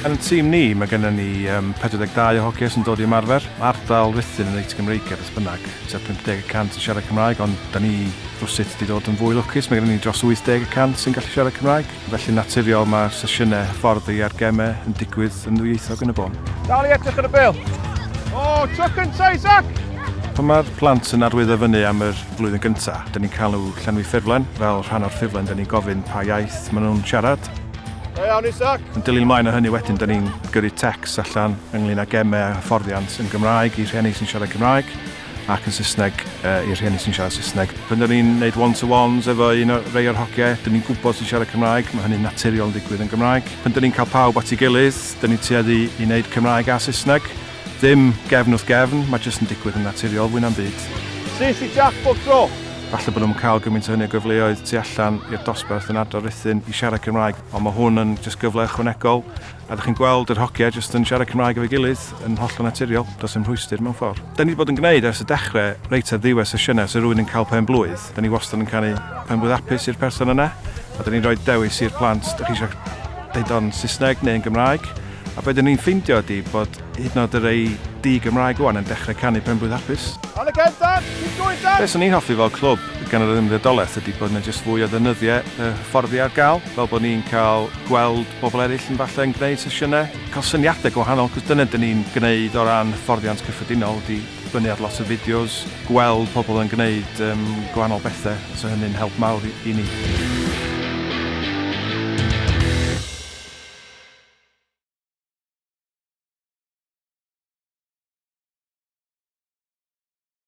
Yn y tîm ni, mae gennym ni 42 o hogiau sy'n dod i ymarfer. Mae ardal Ruthun yn reit Gymreigaidd beth bynnag, tua 50 y cant yn siarad Cymraeg, ond da ni rywsut wedi dod yn fwy lwcus, mae gennym ni dros 80 y cant sy'n gallu siarad Cymraeg. Felly'n naturiol mae'r sesiynau hyfforddi a'r gemau yn digwydd yn ddwyieithog yn y bôn. Dal i edrych ar y bêl! O, tro cynta i Zac! Pan mae'r plant yn arwyddo fyny am yr flwyddyn gynta, dan ni'n cael nhw llenwi ffurflen, fel rhan o'r ffurflen dan ni'n gofyn pa iaith maen nhw'n siarad. Da iawn Isaac! Yn dilyn ymlaen o hynny wedyn dan ni'n gyrru tecs allan ynglyn â gemau a hyfforddiant yn Gymraeg i rhieni sy'n siarad Cymraeg. ac yn Saesneg i'r rhieni sy'n siarad Saesneg. Pan dan ni'n neud one to ones efo un o rei o'r hogie, dan ni'n gwybod sy'n siarad Cymraeg, mae hynny'n naturiol yn digwydd yn Gymraeg. Pan dan ni'n cael pawb at ei gilydd, dan ni'n tueddu i neud Cymraeg a Saesneg. Ddim gefn wrth gefn, mae jyst yn digwydd yn naturiol fwy na'm byd. Ces i Jac bob tro! Falle bod nhw'm yn cael gymaint o hynny o gyfleoedd tu allan i'r dosbarth yn Ardal Ruthun i siarad Cymraeg, ond mae hwn yn jyst gyfle ychwanegol. A dych chi'n gweld yr hogia jyst yn siarad Cymraeg efo'i gilydd yn hollol naturiol, does dim rhwystr mewn ffordd. Dan ni 'di bod yn gwneud ers y dechre reit ar ddiwedd sesiynau os yw rhywun yn cael pen blwydd, dan ni wastad yn canu pen blwydd hapus i'r person yna a dan ni'n rhoi dewis i'r plant dych chi eisiau deud o'n Saesneg neu yn Gymraeg a be dan ni'n ffeindio ydi bod hyd yn oed y rei di-Gymraeg ŵan yn dechrau canu pen blwydd hapus. Ar y cefn Dan! Keep going Dan! Be 'swn i'n hoffi fel clwb gan yr Ymddiriedolaeth ydi bod 'na jyst fwy o ddeunyddiau yy hyfforddi ar gael fel bod ni'n cael gweld pobl eraill yn falle yn gwneud sesiynau, cael syniadau gwahanol, cos dyna dyn ni'n gwneud o ran hyfforddiant cyffredinol, ydy dibynnu ar lot o fideos, gweld pobl yn gwneud yym gwahanol bethau, so hynny'n help mawr i ni.